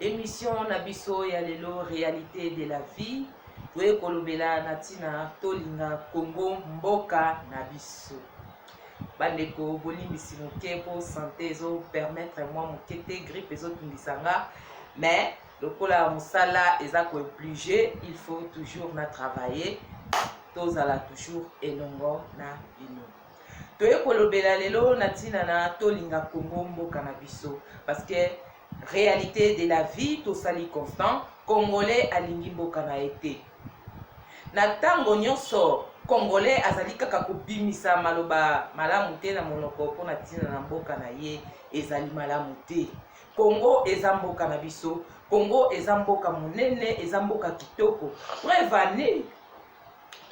Emission na biso ya lelo realite de la vie toye kolobela na ntina tolinga Congo mboka na biso. bandeko bolimbisi moke mpo sante ezopermettre mwa moke te grippe ezotungisa nga mais lokola mosala eza kooblige il faut toujours na travailler tozala toujours elongo na bino Toye kolobela lelo na tina na tolinga Congo mboka na biso parce que realite de la vie tosali constant congolais alingi mboka na ye te na ntango nyonso congolais azali kaka kobimisa maloba malamu te na monoko mpo na ntina na mboka na ye ezali malamu te kongo eza mboka na biso kongo eza mboka monene eza mboka kitoko prevane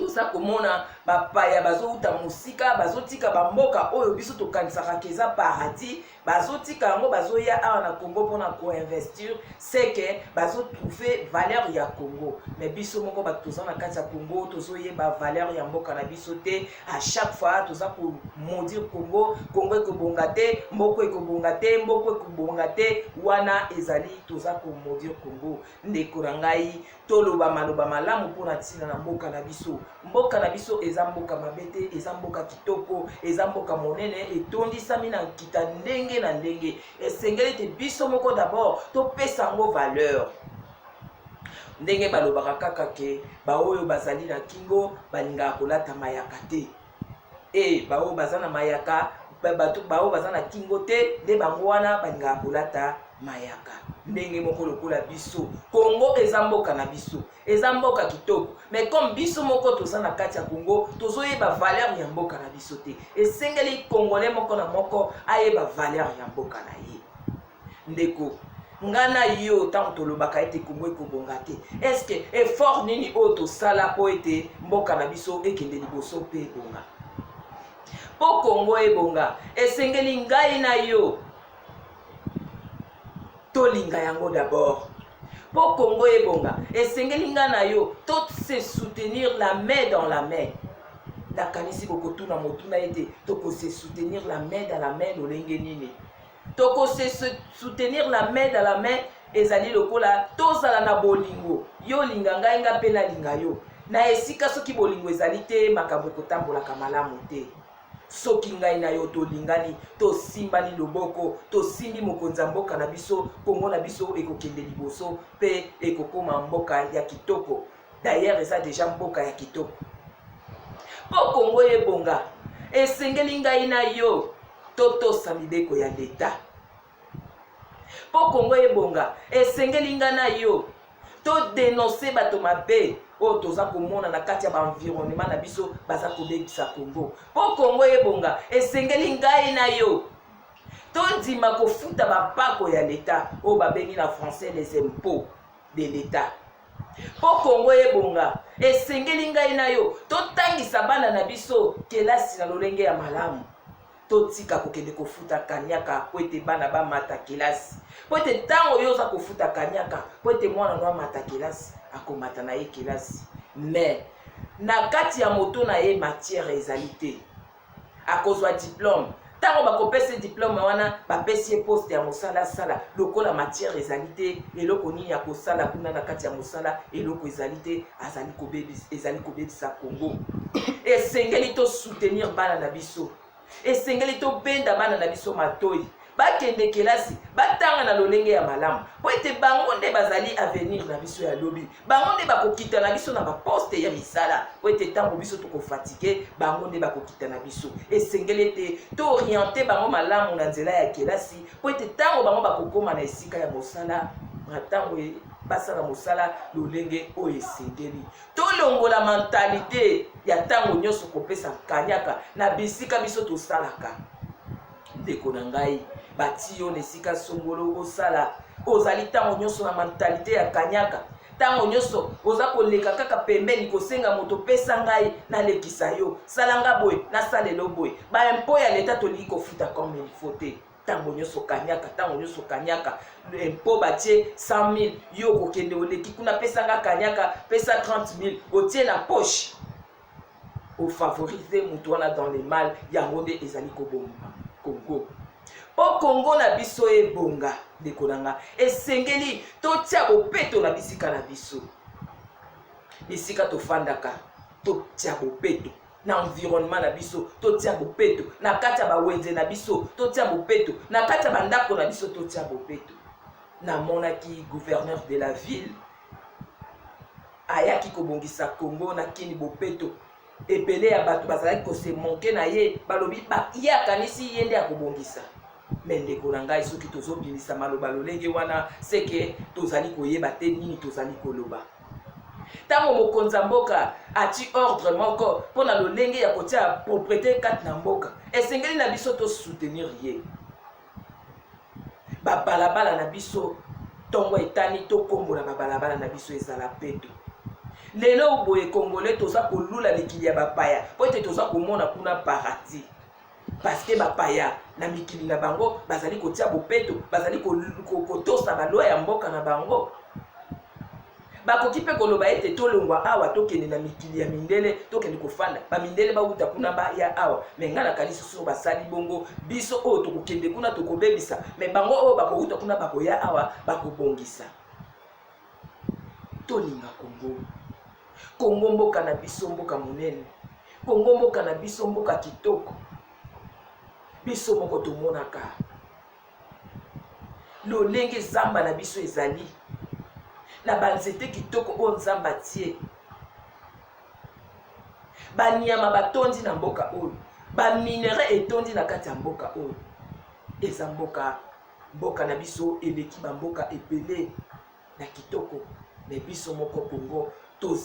toza komona bapaya bazouta mosika bazotika bamboka oyo biso tokanisaka ke eza paradis bazotika yango bazoya awa na congo mpona koinvestir seke bazotrouve valeur ya congo me biso moko bato toza na kati ya congo tozoyeba valeur ya mboka na biso te a chaque fois toza komaudire congo congo ekobonga te mboko ekobonga te mboko ekobonga te wana ezali toza komaudire congo Ndeko na ngai, toloba maloba malamu mpo na ntina na mboka na biso. Mboka na biso eza mboka mabe te, eza mboka kitoko, eza mboka monene, etondisami na nkita ndenge na ndenge. Esengeli te biso moko dabord topesa yango valeur ndenge balobaka kaka ke baoyo bazali na kingo balingaka kolata mayaka te. Ee, baoyo baza na mayaka, bato baoyo baza na kingo te, nde bango wana balingaka kolata mayaka ndenge moko lokola biso. Kongo eza mboka na biso, eza mboka kitoko, mais comme biso moko toza na kati ya Kongo, tozoyeba valeur ya mboka na biso te. Esengeli Kongolais moko na moko ayeba valeur ya mboka na ye. ndeko nga na yo ntango tolobaka ete kongo ekobonga te estce effort nini oyo tosala mpo ete mboka na biso ekende liboso mpe ebonga mpo kongo ebonga esengeli ngai na yo tolinga yango d'abord mpo kongo ebonga esengeli ngai na yo to se soutenir la main dans la main nakanisi bokotuna motuna ete tokose soutenir la main dans la main lolenge nini toko se soutenir la main dans la main ezali lokola tozala na bolingo yo olinga ngai nga mpe nalinga yo na esika soki bolingo ezali te makambo ekotambolaka malamu te soki ngai na yo tolingani tosimbani loboko tosimbi mokonzi ya mboka na biso kongo na biso ekokende liboso mpe ekokoma mboka ya kitoko D'ailleurs eza deja mboka ya kitoko. Mpo Kongo ebonga, esengeli ngai na yo totosa mibeko ya leta. Mpo Kongo ebonga, esengeli ngai na yo todenonse bato mabe oyo toza komona na kati ya baenvironnement na biso baza kobebisa Kongo. Mpo Kongo ebonga, esengeli ngai na yo tondima kofuta bampako ya leta oyo babengi na français les impôts de l'etat Mpo Congo ebonga, esengeli ngai na yo totangisa bana na biso kelasi na lolenge ya malamu. Totika kokende kofuta kanyaka mpo ete bana bamata kelasi, mpo ete ntango yo oza kofuta kanyaka mpo ete mwana no amata kelasi, akomata na ye kelasi mais na kati ya moto na ye matière ezali te akozwa diplome ntango bakopesa ye diplome wana bapesi ye poste ya mosala asala lokola matière ezali te eloko nini akosala kuna na kati ya mosala eloko ezali te azali kobebisa, ezali kobebisa congo esengeli tosoutenir bana na biso esengeli tobenda bana na biso matoi bakende kelasi batanga na lolenge ya malamu mpo ete bango nde bazali avenir na biso ya lobi bango nde bakokita na biso na baposte ya misala po ete ntango biso tokofatike bango nde bakokita na biso esengeli ete tooriente bango malamu na nzela ya kelasi po ete ntango bango bakokoma na esika ya mosala na ntango e, basala mosala lolenge oyo esengeli tolongola mentalite ya ntango nyonso kopesa kanyaka na bisika biso tosalaka ndeko na ngai bati yo na esika songolo osala ozali ntango nyonso na mentalite ya kanyaka ntango nyonso oza koleka kaka pembeni kosenga moto pesa ngai nalekisa yo sala nga boye nasalelo boye baimpo ya leta tolingi kofuta comme il faut te ntango nyonso kanyaka ntango nyonso kanyaka mpo batie 100 000 yo okokende oleki kuna pesa nga kanyaka pesa 30 000 otie na poche o favoriser mutu wana dans le mal yango nde ezali koboma congo mpo congo na biso ebonga ndeko na nga esengeli totia bopeto na bisika na biso bisika tofandaka totia bopeto na environnement na biso totia bopeto na kati ya bawenze na biso totia bopeto na kati ya bandako na biso totia bopeto namonaki gouverneur de la ville ayaki kobongisa congo na kini bopeto ebele ya bato bazalaki kosemonke na ye balobi ye akanisi ye nde akobongisa me ndeko na ngai soki tozobimisa maloba lolenge wana seke tozali koyeba te nini tozali koloba ntango mokonzi ya mboka ati ordre moko mpo na lolenge ya kotia proprete kati na mboka esengeli na biso tosoutenir ye Ba balabala na biso ntongo etani tokombola ba balabala na biso ezala peto. Lelo boye congolais toza kolula mikili ya bapaya mpo ete toza komona kuna paradis paske bapaya na mikili na bango bazali kotia bopeto bazali kotosa balwa ya mboka na bango Bakoki mpe koloba ete tolongwa awa tokende na mikili ya mindele tokende kofanda ba mindele bawuta kuna baya awa me ngai nakanisi soki basali bongo biso oyo tokokende kuna tokobebisa me bango oyo bakowuta kuna bakoya awa bakobongisa tolinga kongo kongo mboka na biso mboka monene kongo mboka na biso mboka kitoko biso moko tomonaka lolenge zamba na biso ezali na banzete kitoko oyo nzambe atie banyama batondi na mboka oyo baminere etondi na kati ya mboka oyo eza mboka mboka na biso eleki bamboka ebele na kitoko mais biso moko congo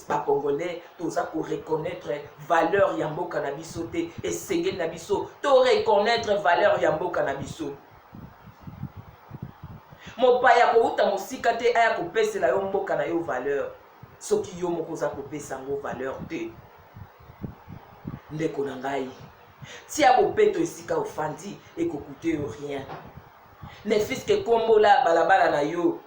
ba congolais toza ko reconnaître valeur ya mboka na biso te esengeli na biso to reconnaître valeur ya mboka na biso mopaya kowuta mosika te aya kopesela yo mboka na yo valeur soki yo moko oza kopesa yango valeur te ndeko na ngai tia bopeto esika ofandi ekokute yo rien ne fils que kombo la balabala na yo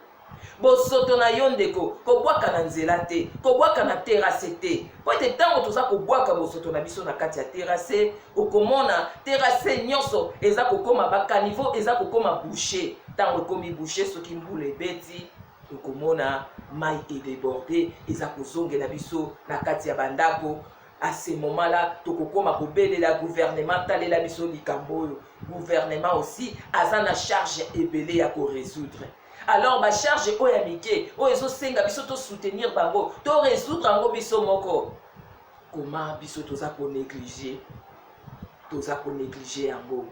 bosoto na yo ndeko kobwaka na nzela te kobwaka na terase te mpo ete ntango toza kobwaka bosoto na biso na kati ya terase okomona terase nyonso eza kokoma bakanivo eza kokoma bouche ntango ekomi bouche soki mbula ebeti okomona mai edeborde eza kozongela biso na kati ya bandako à ce moment là tokokoma kobelela gouvernement talela biso likambo oyo gouvernement aussi aza na charge ebele ya koresoudre alors bacharge oyo ya mike oyo ezosenga biso tosoutenir bango toresoudre yango biso moko koma biso toza konéglige toza konéglige yango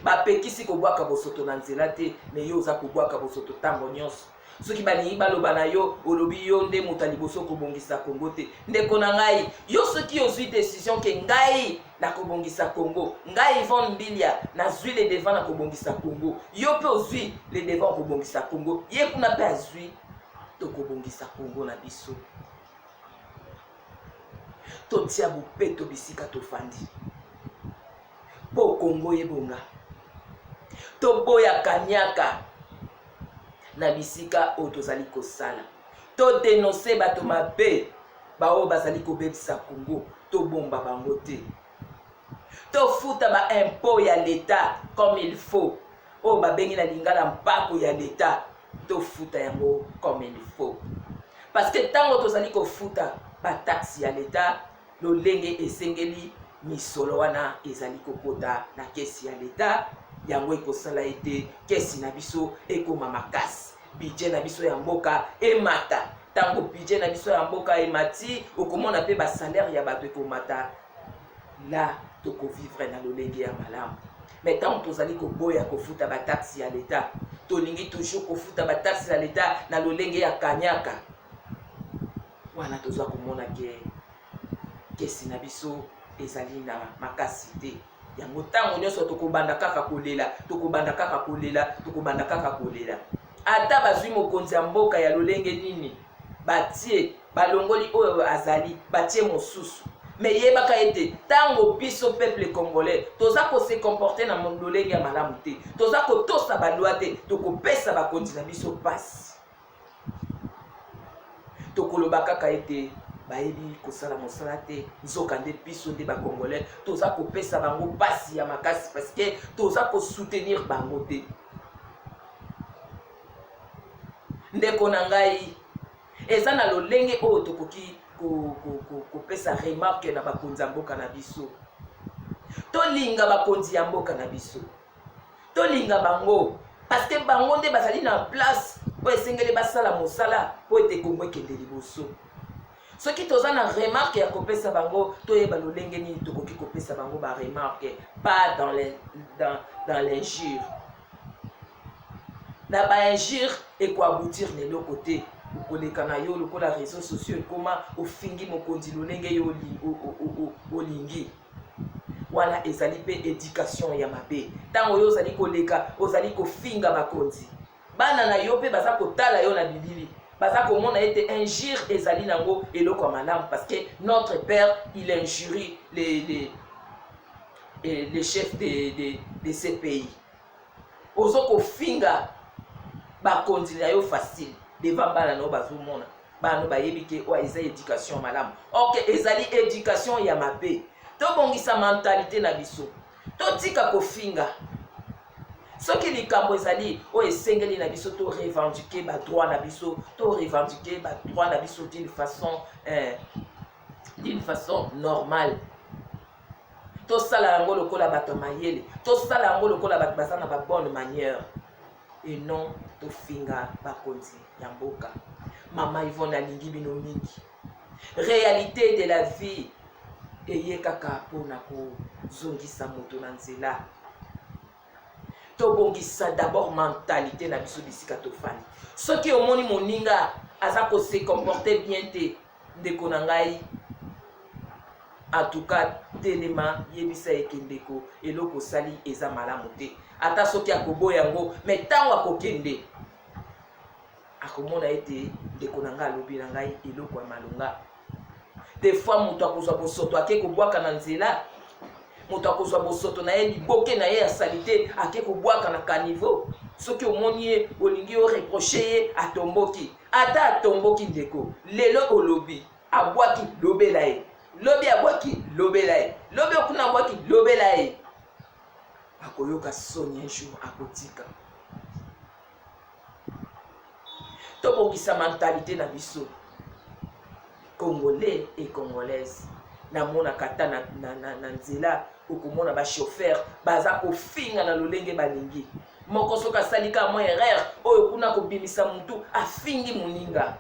bapekisi kobwaka bosoto na nzela te me yo oza kobwaka bosoto ntango nyonso soki balingi baloba na yo olobi yo nde moto ya liboso kobongisa kongo te ndeko na ngai yo soki ozwi decision ke ngai nakobongisa kongo ngai ivon mbilia nazwi le devant na kobongisa kongo yo mpe ozwi le devant kobongisa kongo ye kuna mpe azwi tokobongisa kongo na biso totia bopeto bisika tofandi po congo ebonga toboya kaniaka na bisika oyo tozali kosala to denonse bato mabe baoyo bazali kobebisa congo tobomba bango te tofuta baimpo ya leta comme il faut oyo babengi na lingala mpako ya leta tofuta yango comme il faut parce que ntango tozali kofuta bataxe ya leta lolenge esengeli, misolo wana ezali kokota na kesi ya leta yango ekosala ete kesi na biso ekoma makasi bidje na biso ya mboka emata ntango bidje na biso ya mboka emati okomona mpe basalere ya bato ekomata la tokovivre na lolenge ya malamu me ntango tozali koboya kofuta bataksi ya leta tolingi toujours kofuta bataksi ya leta na lolenge ya kanyaka Wana toza komona ke kesi na biso ezali na makasi te, yango tango nionso tokobanda kaka kolela, tokobanda kaka kolela, tokobanda kaka kolela. Ata bazui mokonzi ya mboka ya lolenge nini, batie balongoli oyo azali, batie mosusu me yebaka ete ntango biso peuple congolais toza kose comporte na lolenge ya malamu te toza kotosa balwa te tokopesa bakonzi na biso mpasi tokoloba kaka ete bayebi kosala mosala te nzokande biso nde bacongolais toza kopesa bango mpasi ya makasi parceke toza kosoutenir bango te ndeko na ngai eza na lolenge oyo tokoki kopesa ko, ko, ko remarke na bakonzi ya mboka na biso tolinga bakonzi ya mboka na biso tolinga bango parceke bango nde bazali na place oyo esengeli basala mosala mpo ete kongo ekende liboso soki toza na remarke ya kopesa bango toyeba lolenge nini tokoki kopesa bango baremarke pas dans l'injure na bainjure ekoaboutir na eloko te okoleka na yo lokola réseau sociaux ekoma ofingi mokonzi lolenge yo olingi Wana ezali mpe education ya mabe. Ntango yo ozali koleka, ozali kofinga bakonzi. Bana na yo mpe baza kotala yo na bilili. Baza komona ete injure ezali nango eloko ya malamu parce que notre père il injurie les, les, eh, les chefs de, de, de ces pays. ozo kofinga bakonzi na yo facile devant bana na yo bazomona bana no bayebi ke oyo eza education malamu ok ezali education ya mabe tobongisa mentalite na biso totika kofinga soki likambo ezali oyo esengeli na biso to revendiquer badroit na biso to revendiquer badroit na biso d'une façon eh, d'une façon normale tosala yango lokola bato ya mayele tosala yango lokola bato baza na babonne manière et non tofinga bakonzi ya mboka mama ivone alingi bino mingi réalité de la vie eye kaka mpona kozongisa moto na nzela tobongisa d'abord mentalité na biso bisika tofandi soki omoni moninga aza kose comporte bien te Ndeko na ngai en tout cas telema yebisa ye ke ndeko eloko osali eza malamu te ata soki akoboya yango me ntango akokende akomona ete ndeko na ngai alobi na ngai eloko ya malonga de fois moto akozwa bosoto ake kobwaka na nzela moto akozwa bosoto na ye liboke na ye ya salite ake kobwaka na caniveau soki omoni ye olingi oreproche ye atomboki Ata atomboki ndeko, lelo olobi abwaki, lobela ye. Lobi abwaki, lobela ye. Lobi okuna abwaki, lobela ye. Akoyoka soni un jour akotika. Tobongisa mentalite na biso. congolais et congolaise namonaka ata na, na, na, na nzela okomona bachauffeur baza kofinga na lolenge balingi moko soki asali kaka mwa erreur oyo kuna kobimisa motu afingi moninga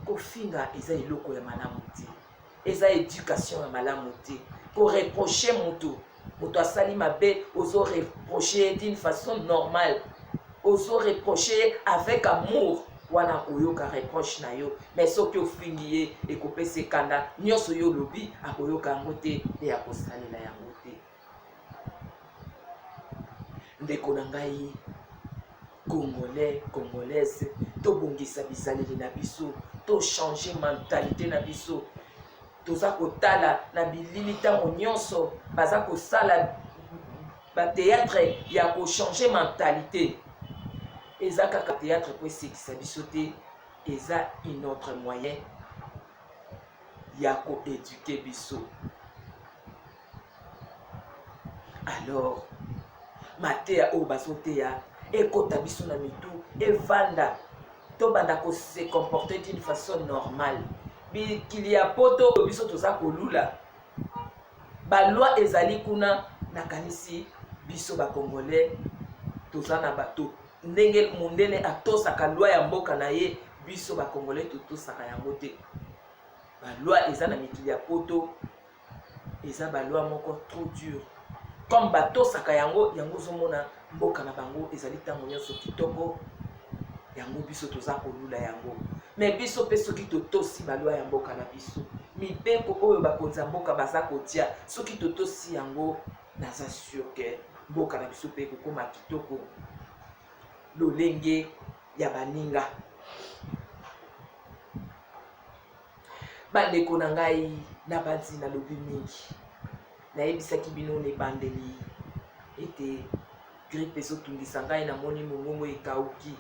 kofinga eza eloko ya malamu te eza education ya malamu te ko reprocher mutu moto asali mabe ozo reproche ye d'une façon normale ozo reproche ye avec amour wana akoyoka reproche na yo mais soki ofingi ye ekopesa ekanda nyonso yo olobi akoyoka yango te mpe akosalela yango te ndeko na ngai congolais congolaise tobongisa bizaleli na biso tochange mentalite na biso toza kotala na bilili ntango nyonso baza kosala bateatre ya kochange mentalite eza kaka teatre mpo esekisa biso te eza une autre moyen ya koeduke biso alors mateya oyo bazoteya ekota biso na mitu evanda tobanda kose comporter d'une façon normale bikili ya poto oyo biso toza kolula balwa ezali kuna nakanisi biso bacongolais toza na bato ndenge mondele atosaka lwa ya mboka na ye biso bacongolais totosaka yango te balwa eza na mikili ya poto eza ba loi moko trop dur comme batosaka yango yango ozomona mboka na bango ezali ntango nyonso kitoko yango biso toza kolula yango me biso mpe soki totosi balwa ya mboka na biso mibeko oyo bakonzi ya mboka baza kotia soki totosi yango naza sur ke mboka na biso mpe kokoma kitoko lolenge ya baninga Bandeko na ngai, nabanzi nalobi mingi. Nayebisaki bino na ebandeli ete gripe ezotungisa ngai, namoni mongongo ekauki.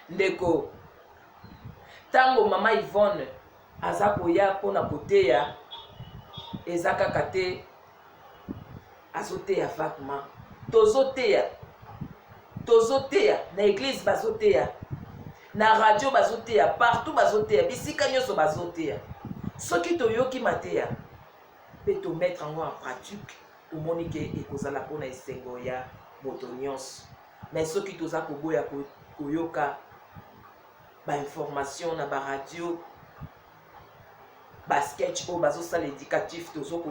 Ndeko, ntango mama Yvonne aza koya mpo na koteya, eza kaka te azoteya vagement tozoteya tozoteya na eglise bazoteya na radio bazoteya partout bazoteya bisika nyonso bazoteya soki toyoki mateya mpe tomettre yango en pratique tomoni ke ekozala mpona esengo ya moto nyonso me soki toza koboya koyoka bainformation na baradio basketch oyo bazosala éducatif tozo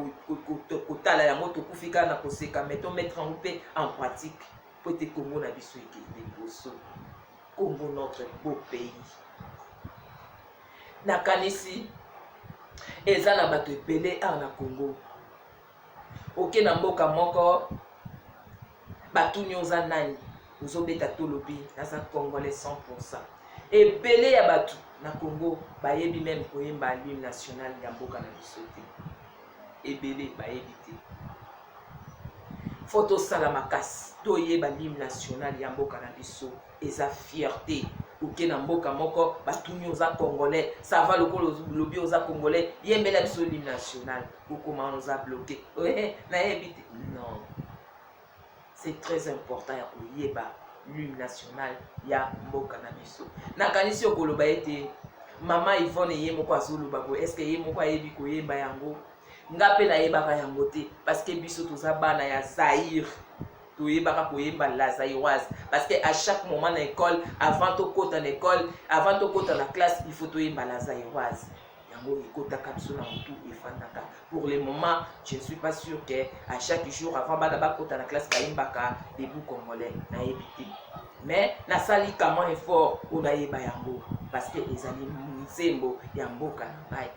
kotala yango tokufi kaka na koseka mai tomettre yango mpe en pratique mpo ete congo na biso ekende liboso congo notre beau pays nakanisi eza na bato ebele awa na congo oke na mboka moko batuni oza nani ozobeta tolobi naza congolais 100 pourcent ebele ya bato na congo bayebi meme koyemba allume national ya mboka na biso te ebele bayebi te fo tosala makasi toyeba allume national ya mboka na biso eza fierté oke na mboka moko batuni oza congolais sava lokola lobi oza congolais yembela biso allume national kokoma on za bloke oye nayebi te non c'est très important ya koyeba lune nationale ya mboka na biso nakanisi yo koloba ete mama ivone ye moko azoloba boye estce ye moko ayebi koyemba yango nga mpe nayebaka yango te parceke biso toza bana ya zaire toyebaka koyemba la zairoise parce que à chaque moment na école avant tokota na école avant tokota na classe il faut toyemba la zairoise yango ekotaka biso na motu efandaka pour le moment je ne suis pas sûr que à chaque jour avant bana bakota na classe bayembaka debout congolais nayebi te mais nasali kama effort oyo nayeba yango parce que ezali nzembo ya mboka na ngai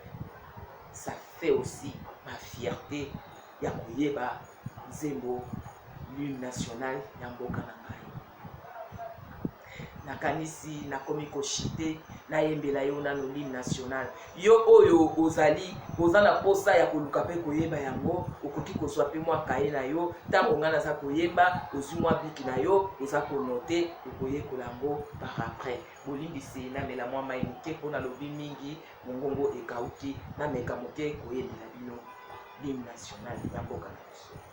ça fait aussi ma fierté ya koyeba nzembo l'une nationale ya mboka na ngai nakanisi nakomi koshite nayembela yo na lolime national yo oyo ozali oza na mposa ya koluka mpe koyeba yango okoki kozwa mpe mwa kaye na yo ntango ngai naza koyemba ozwi mwa biki na yo oza konote okoyekola yango par après bolimbisi namela mwa mai moke mpo nalobi mingi mongongo ekauki nameka moke koyembela bino lime national ya mboka na biso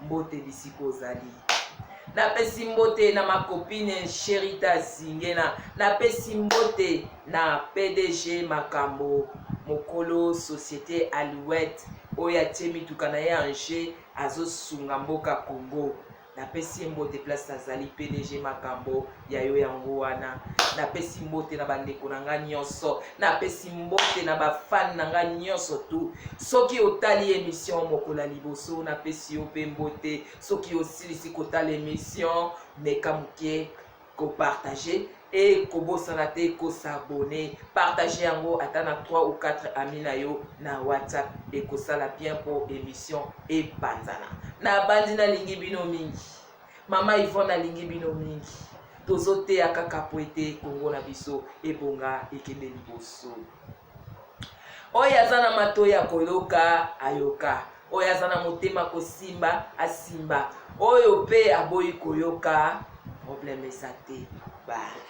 Mbote bisika ozali. Napesi mbote na ma copine Sherita Zingena. Napesi mbote na PDG Makambo mokolo societe Alouette oyo atie mituka na ye en jeu azosunga mboka Congo. Napesi ye mbote place azali PDG Makambo ya yo yango wana napesi mbote na bandeko na ngai nyonso napesi mbote na bafani na ngai nyonso tu soki otali emission mokolo ya liboso napesi yo mpe mbote soki osilisi kotala emission meka moke kopartage e kobosana te kosabone partage yango ata na 3 ou 4 ami na yo na whatsapp ekosala bien mpo emission epanzana nabandi nalingi bino mingi Mama Yvonne alingi bino mingi. Tozoteya kaka po ete Congo na biso ebonga ekende liboso. Oyo aza na matoi ya koyoka ayoka, oyo aza na motema kosimba asimba, oyo mpe aboyi koyoka problème eza te. Bye.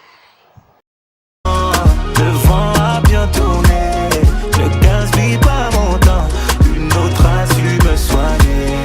Le vent a bien tourné, ne gaspille pas mon temps, une autre a su me soigner.